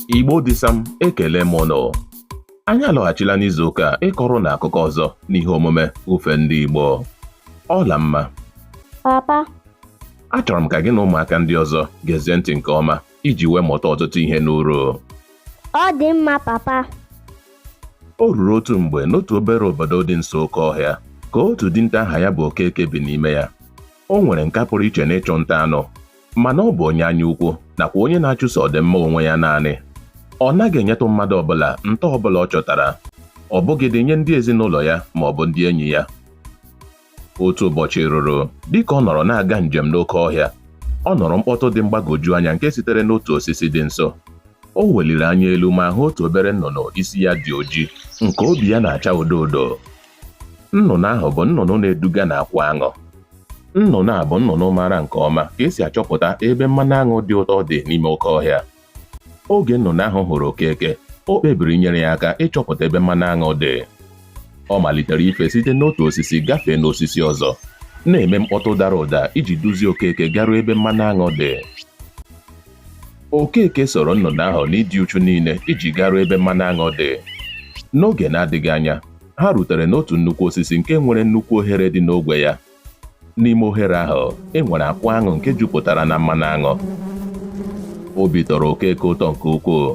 Igbo dịsam ekele m ụnụ anyị alọghachila n'izu ụka a ịkọrọ ụnụ akụkọ ọzọ n'ihe omume ofe ndị Igbo Ọlamma papa achọrọ m ka gị na ụmụaka ndị ọzọ gezie ntị nke ọma iji wee mụta ọtụtụ ihe n'uru ọ dị mma papa o ruru otu mgbe n'otu obere obodo dị nso oke ọhịa ka otu dinta aha ya bụ Okeke bi n'ime ya o nwere nka pụrụ iche n'ịchụ nta anụ mana ọ bụ onye anya ukwu nakwa onye na-achụso ọdịmma onwe ya naanị ọ naghị enyetụ mmadụ ọbụla nta ọbụla ọ chọtara ọ bụghịdị nye ndị ezinụlọ ya ma ọ bụ ndị enyi ya otu ụbọchị ruru dịka ọ nọrọ na-aga njem n'oke ọhịa ọ nụrụ mkpọtụ dị mgbagwoju anya nke sitere n'otu osisi dị nso o weliri anya elu ma hụ otu obere nnụnụ isi ya dị oji nke obi ya na-acha odo odo nnụnụ ahụ bụ nnụnụ na-eduga n'akwụ aṅụ nnụnụ a bụ nnụnụ maara nke ọma ka e si achọpụta ebe mmanụ aṅụ dị ụtọ dị n'ime oke ọhịa oge nnụnụ ahụ hụrụ okeke o kpebiri inyere ya aka ịchọpụta ebe mmanụ aṅụ dị ọ malitere ife site n'otu osisi gafee n'osisi ọzọ na-eme mkpọtụ dara ụda iji duzie okeke garuo ebe mmanụ aṅụ dị Okeke soro nnụnụ ahụ n'ịdị uchu niile iji garuo ebe mmanụ aṅụ dị. N'oge na-adịghị anya, ha rutere n'otu nnukwu osisi nke nwere nnukwu ohere dị n'ogwe ya. N'ime ohere ahụ, e nwere akwụ aṅụ nke jupụtara na mmanụ aṅụ. Obi tọrọ Okeke ụtọ nke ukwuu.